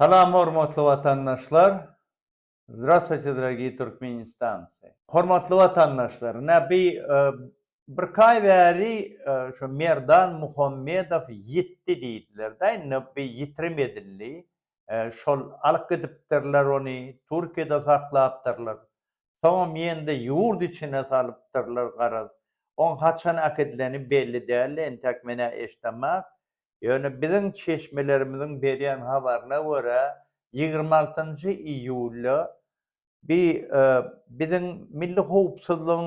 Salam hormatly watandaşlar! Zdrastwuýte dragiý turkmenistancy! Hormatly watandaşlar! Ine bi birki aý bäri şu Merdan Muhammedow ýitdi diýdiler-dä indi bi ýitirim edildi. Şol alyp gidipdirler ony Türkiýede saklapdyrlar. Soňam ýende ýurt içine salypdyrlar garaz. Oň haçan äkidileni belli däldi entäk men-ä eşdemok. Ýöne biziň çeşmelerimiziň berýän habaryna görä, ýigrimi altynjy iýulda bi biziň milli howpsuzlygyň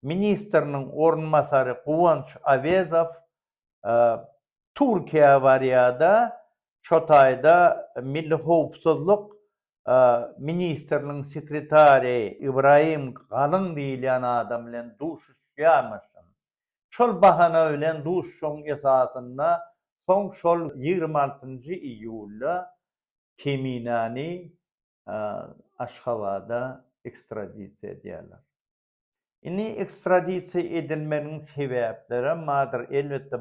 ministriniň orunbasary Guwanç Awezow Türkiýä barýar-da, şo taýda milli howpsuzlyk ministriniň sekretary Ibrahim Galyň diýilýän adam bilen duşuşýarmyşyn. Şol bahana bilen duşuşygyň esasynda soň şol ýigrimi altynjy iýulda Keminany Aşgabada ekstradisiýa edýärler. Indi ekstradisiýa edilmeginiň sebäplerem bardyr. Elbetde,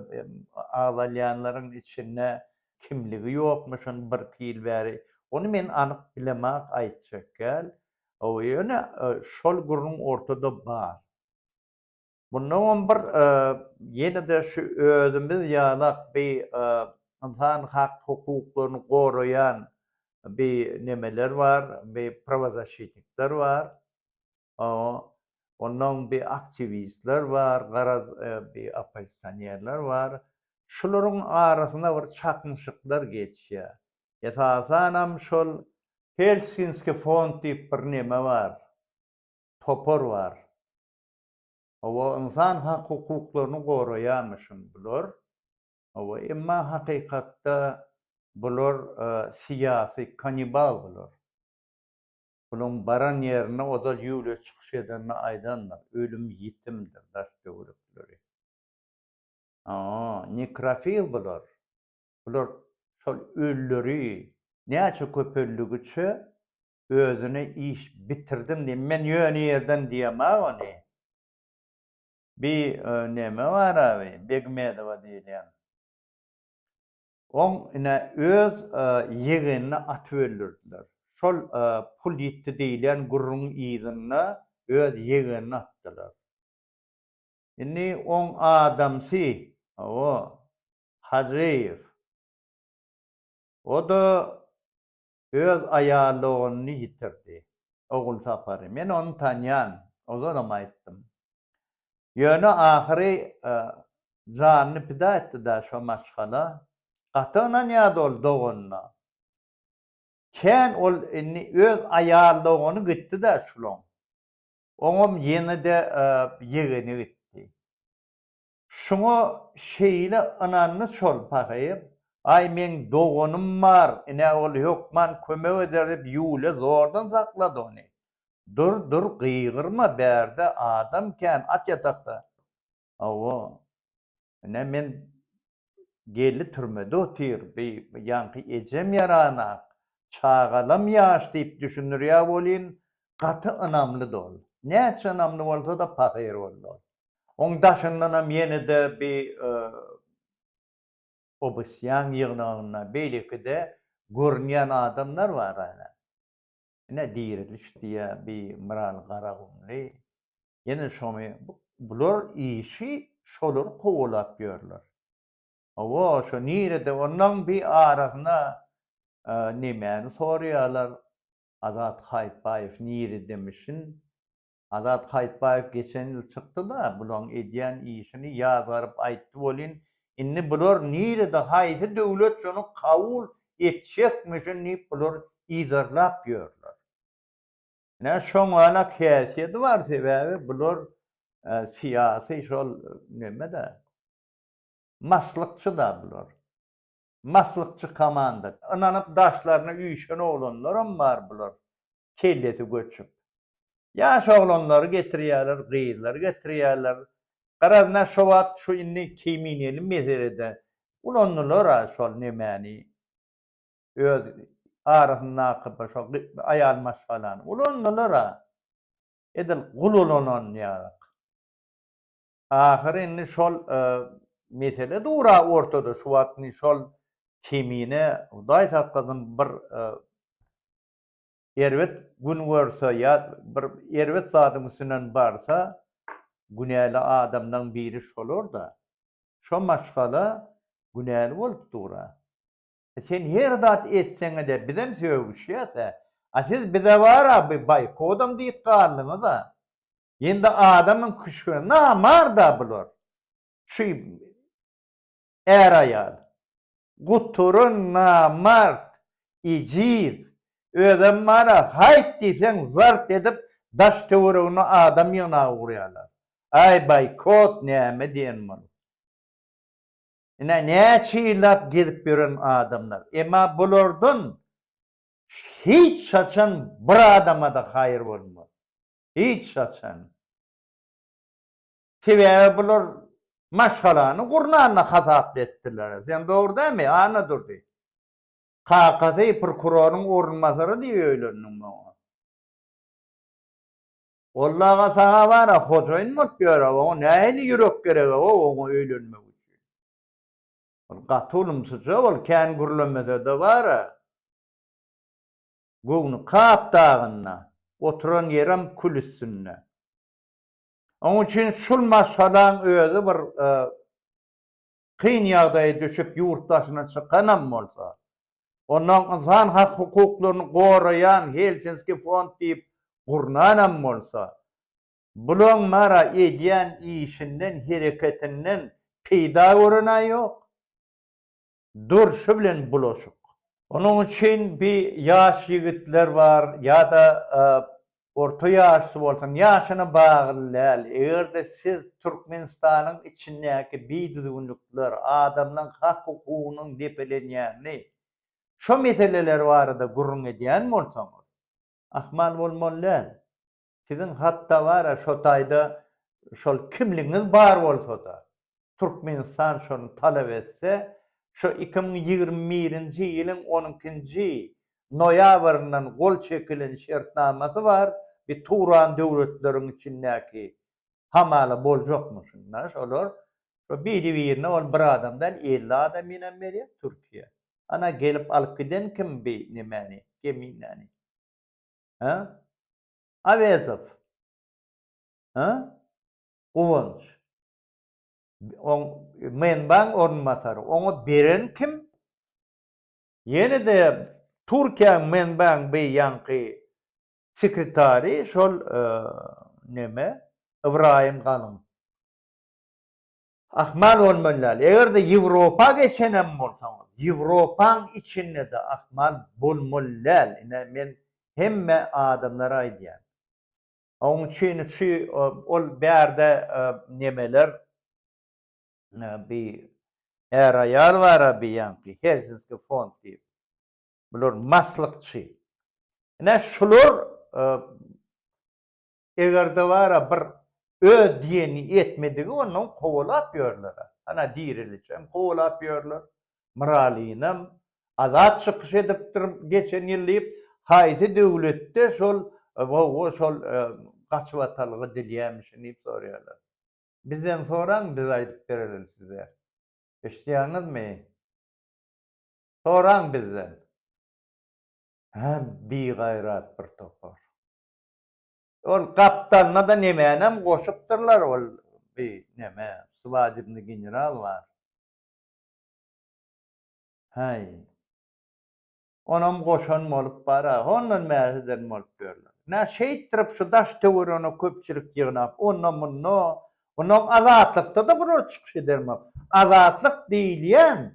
agzalýanlaryň içinde kimligi ýokmy şony birki ýyl bäri, ony men anyk bilemak aýtjak däl. Ýöne şol gürrüň ortada bar. Munda on bir ýene-de şu özümiz ýalak bi ynsan hak hukuklaryny goraýan bi nemeler bar, bi prawazaşitnikler bar. Onnoň bi aktiwistler bar, garaz bi oppozisionerler bar. Şularyň arasynda bir çaknyşyklar geçýär. Esasanam şol Helsinski fond diýip bir neme bar, topar bar. Hawa, ynsan hak-hukuklaryny goraýarmyşyn bular. Hawa, emma hakykatda bular syýasy kannibal bular. Bularyň baran ýerinde ozal Ýuliýa çykyş edende aýdandyr, ölüm ýitimdir, daş töwerekleri. Hawa, nekrofil bular. Bular şol ölüleri näçe köpeldigiçe özüne iş bitirdim diýip men ýöne ýerden diýemag ony bi neme bar abi begmedowa diýilýän oň ine öz ýegenini atyp öldürdiler şol pul ýitdi diýilýän gürrüň yzynda öz ýegenini atdylar indi oň adamsy hawa hajyýew o da öz aýalogluny ýitirdi. Ogulsapary men ony tanýan, ozalam aýtdym. Ýöne ahyry janyny pida etdi-dä şo maşgala. Gaty ynanýardy ol doganyna. Kän ol indi öz aýaldogany gitdi-dä şulaň. Oňam ýene-de ýegeni gitdi. Şuňa şeýle ynandy Çol pahyr, Aý, meň doganym bar, ine, ol hökman kömek eder diýip, Ýuliýa zordan saklady ony. Dur, dur, gygyrma, bärde adam kän, at ýatakda. Hawa, ine, men geldi türmede otyr, bi ýaňky ejem ýaranak, çagalam ýaş diýip düşündirýär welin, gaty ynamlydy ol. Näçe ynamly bolsa-da pahyr boldy ol. Oň daşyndanam ýene-de bi obysýan ýygnagynda beýleki-de görünýän adamlar bar ene. Ine Diriliş diýýä bi Myral Garagumly. Ýene şoňy bular işi şolary kowalap ýörler. Hawa şo nirede onlaň bi arasyna nemäni soraýalar Azat Haýytbaýew niridemişin Azat Haýytbaýew geçen ýyl çykdy-da, bulaň edýän işini ýazgaryp aýtdy welin, indi bular nirede, haýsy döwlet şony kabul etjekmişin diýip bular yzarlap ýörler. Ine, şoňalak häsiýeti bar, sebäbi bular syýasy şol neme-de, maslykçy-da bular. Maslykçy komanda. Ynanyp daşlaryna üýşen oglanlaram bar bular kellesi göçüp. Ýaş oglanlary getirýärler, gyzlary getirýärler. Garaz men şo wagt şu indi keýmineli meselede ulandylar-a şol nemäni, öz arasyndaky bir şo aýal maşgalany ulandylar-a. Edil gul ulananýarak. Ahyry indi şol mesele dura ortada şu wagt indi şol kemine hudaý saklasyn bir erbet gün görse ýa bir erbet zadyň üstünden barsa günäli adamlaň biri şolarda şo maşgala günäli bolup dura sen her zat etseňede bizem sögüşýäsä a siz bizebara bir baýkodam diýip galdyňyza Indi adamyň küşgüne namar-da bular. Şu är-aýal. Guturyn namart, ejiz. Özem bar-a, haýt diýseň zart edip daş-töweregine adam ýygnap ugrýarlar. Aý, boýkot näme diýen muny. Ine, näçe ýyllap gezip ýören adamlar. Emma bulardan hiç haçan bir adama-da haýyr bolmaz. Hiç haçan. Sebäbi bular maşgalany gurnanda hasaply etdiler. Sen dogry dämi, Annadurdy? Kakasy prokuroryň orunbasary diýip öýlendiň muňa. Olly aga saňa bar-a, hojaýyn bolup ýör-a, oňa nähili ýürek gereg-ow oňa öýlenmek üçin. Ol gaty ulumsyja, ol kän gürlemese-de bar-a. göwni Kap dagynda, oturan ýerem kül üstünde. Onuň üçin şul maşgalaň özi bir kyn ýagdaýa düşüp ýurt daşyna çykanam bolsa, onnoň ynsan hak hukuklaryny goraýan Helsinski fond diýip gurnanam bolsa, bulaň mara edýän işinden, hereketinden peýda gören-ä ýok. durşy bilen bulaşyk. Onuň üçin bi ýaş ýigitler bar ýa-da orta ýaşly bolsun, ýaşyna bagly däl, eger-de siz Türkmenistanyň içindäki bidüzgünlikler, adamlaň hak-hukugynyň depelenýänini, şo meseleler barada gürrüň edýän bolsaňyz, ahmal bolmaly däl. Siziň hatda bar-a şo taýda şol kimligiňiz bar bolsa-da, Türkmenistan şony talap etse, şo iki müň ýigrimi birinji ýylyň on ikinji noýabryndan gol çekilen şertnamasy bar, bi Turan döwletleriň içindäki hamala boljakmy şunda şolar? Şo biri-birine ol bir adam däl, elli adam ýene berýär Türkiýä. Ana gelip alyp giden kim bi nemäni, geminäni? Hä? Awezow. Hä? Guwanç. Oň Menbaň orunbasary. Oňa beren kim? Ýene-de Türkiýäň Menbaň bi ýaňky sekretary şol neme Ybraýym Galyň. Ahmal bolman däl. Eger-de Ýewropa geçenem bolsaňyz, Ýewropaň içinde-de ahmal bolmaly däl. Ine, men hemme adamlara aýdýan. Oň üçin şu ol bärde nemeler bi är-aýal bar-a bi ýaňky Helsinski fond diýip. Bular maslykçy. Ine, şular Egerde bara bir öz diýeni etmedigi ondan kowalap ýörlera. Ana Diriliçem kowalap ýörler. Miralynam Azat çykyş edipdir geçen ýyl diýip haýsy döwletde şol gowy şol gaçybatalga dilýämişin diýip sorýarlar. Bizden soraň biz aýdyp bereliň size. Eşidýäňizmi? Soraň bizden. Hä bigaýrat bir topar. Ol gapdalynada nemänem goşupdyrlar ol bi neme swajibny general bar. Häý. Onam goşan bolup bar a hondan bäs eden bolup ýörler. Nä şeýtdirip şu daş töwerene köpçülik ýygnap onda munda onam azatlykda-da bular çykyş edermok. Azatlyk diýilýän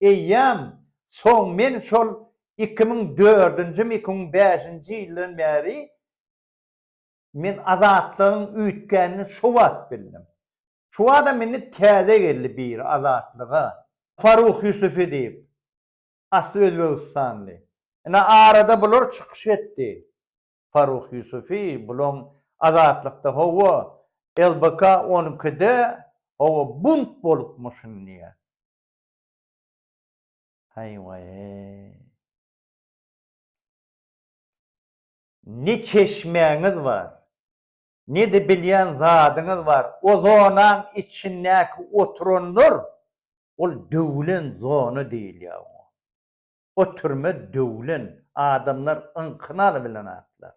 eýýäm soň men şol iki müň dördünjimi iki müň bäşinji ýyldan bäri men azatlygyň üýtgänini şo wagt bildim. Şo adam indi täze geldi biri azatlyga. Faruk Ýusufi diýip, asly özbegistanly. Ine arada bular çykyş etdi. Faruk Ýusufi bulaň azatlykda hawa LBK on ikide hawa bunt bolupmyşyn diýýär. Haý waý-eý. Ne çeşmäňiz bar, ne-de bilýän zadyňyz bar. O zonaň içindäki oturanlar, ol döwlen zona diýilýär oňa. O türme döwlen, adamlar yňkyny alybilen zatlar.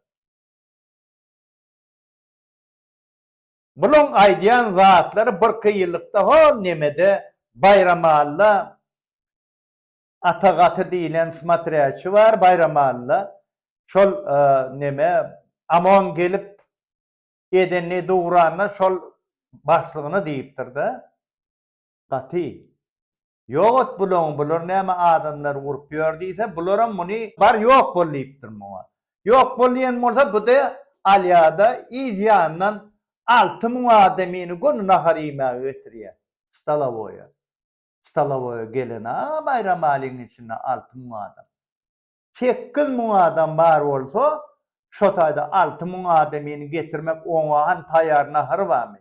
Bulaň aýdýan zatlary birki ýyllykda hol nemede Baýramalla Ata gaty diýlen smatrýaçi bar Baýramalla şol neme Amon gelip edenni dugranna şol başlygyna diýipdirda gaty. Ýok ot bulany, bular näme adamlary urup ýör diýse, bularam muny bar ýok bol diýipdir muňa. Ýok bol diýen bolsa bu-da alýa-da, yz ýanyndan alty müň adamyny göni nahar iýmäge getirýär. Stolowoýa. Stolowoýa gelen-a Baýramalynyň içinde alty müň adam. Sekiz müň adam bar bolsa, şo taýda alty müň adamyny getirmek oňa han taýýar nahary barmy?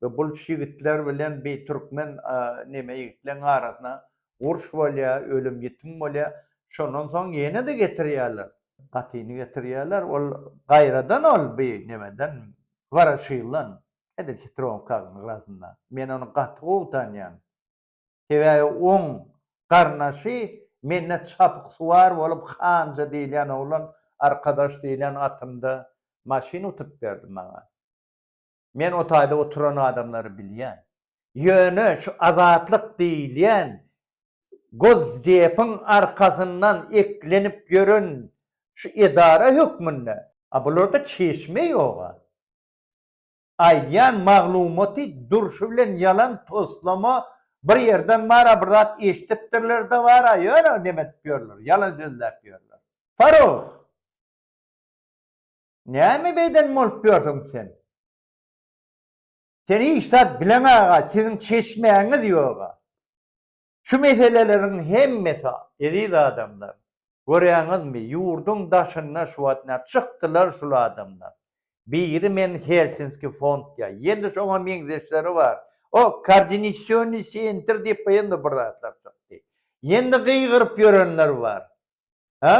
we bulç ýigitler bilen bi türkmen neme ýigitleň arasyna urş bolýa ölüm ýitim bolýa şondan soň ýenede getirýäler gatyny getirýäler ol gaýradan ol bi nemeden waraşildan edil hitrowkaň yrasynda men ony gaty gowy tanýan sebäbi oň garnaşy mende çapyksuwar bolup hanja diýilýän oglan arkadaş diýilýän atymda maşyn utup berdi maňa. Men o taýda oturan adamlary bilýän. Ýöne şu azatlyk diýilýän Gosdepiň arkasyndan eklenip ýören şu edara hökmünde, a bularda çeşme ýog-a. Aýdýan maglumaty durşy bilen ýalan toslama bir ýerden bar-a bir zat eşdipdirler-de bar-a ýöne neme edip ýörler, ýalan sözläp ýörler. Farog! Näme beýden bolup ýörsüň sen? Sen hiç zat bileňaga, siziň çeşmäňiz ýoga. Şu meseleleriň hemmesi, eziz adamlar, görýäňizmi, ýurduň daşynda şu wagt nä çykdylar şul adamlar. Biri men Helsinski fond ýa ýene şoňa meňzeşleri bar. O Kardinisyony sentr diýip ýene bir zatlar çykdy. Ýene gygyryp ýörenler bar. Hä?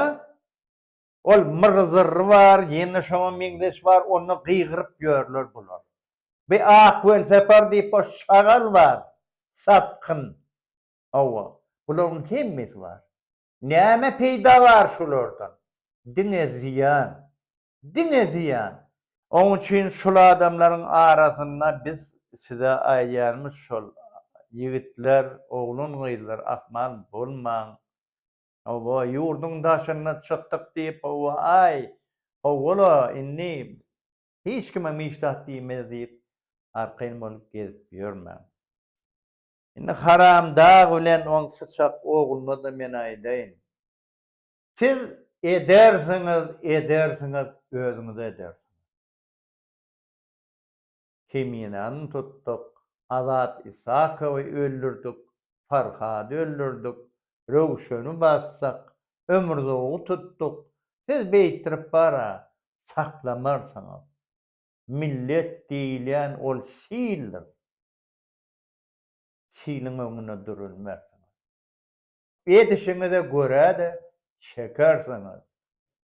Ol myr-zyrry bar, ýene şoňa meňzeş bar, onda gygyryp ýörler bular. Bir ak welsapar diýip bir şagal bar, satgyn. Hawa, bularyň hemmesi bar. Näme peýda bar şulardan? Diňe zyýan. Diňe zyýan. Oň üçin şul adamlaryň arasynda biz size aýdýanymyz şol, ýigitler, oglan-gyzlar ahmal bolmaň. Hawa, ýurduň daşyna çykdyk diýip, hawa-aý, hawa-la, indi hiç kime hiç zat diýmeýäs diýip, arkaýyn bolup gezip ýörmäň. Indi haramdag bilen oň syçak ogluna-da men aýdaýyn. Siz edersiňiz, edersiňiz, özüňize edersiňiz. Keminäni tutduk, Azat Isakowy öldürdik, Farhady öldürdik, Röwşeni bassak, Ömürzogy tutduk, siz beýtdirip bar-a, saklamarsyňyz. Millet diýilýän ol sildir. Siliň öňünde durulmarsyňyz. Edişiňize görä-de çekersiňiz.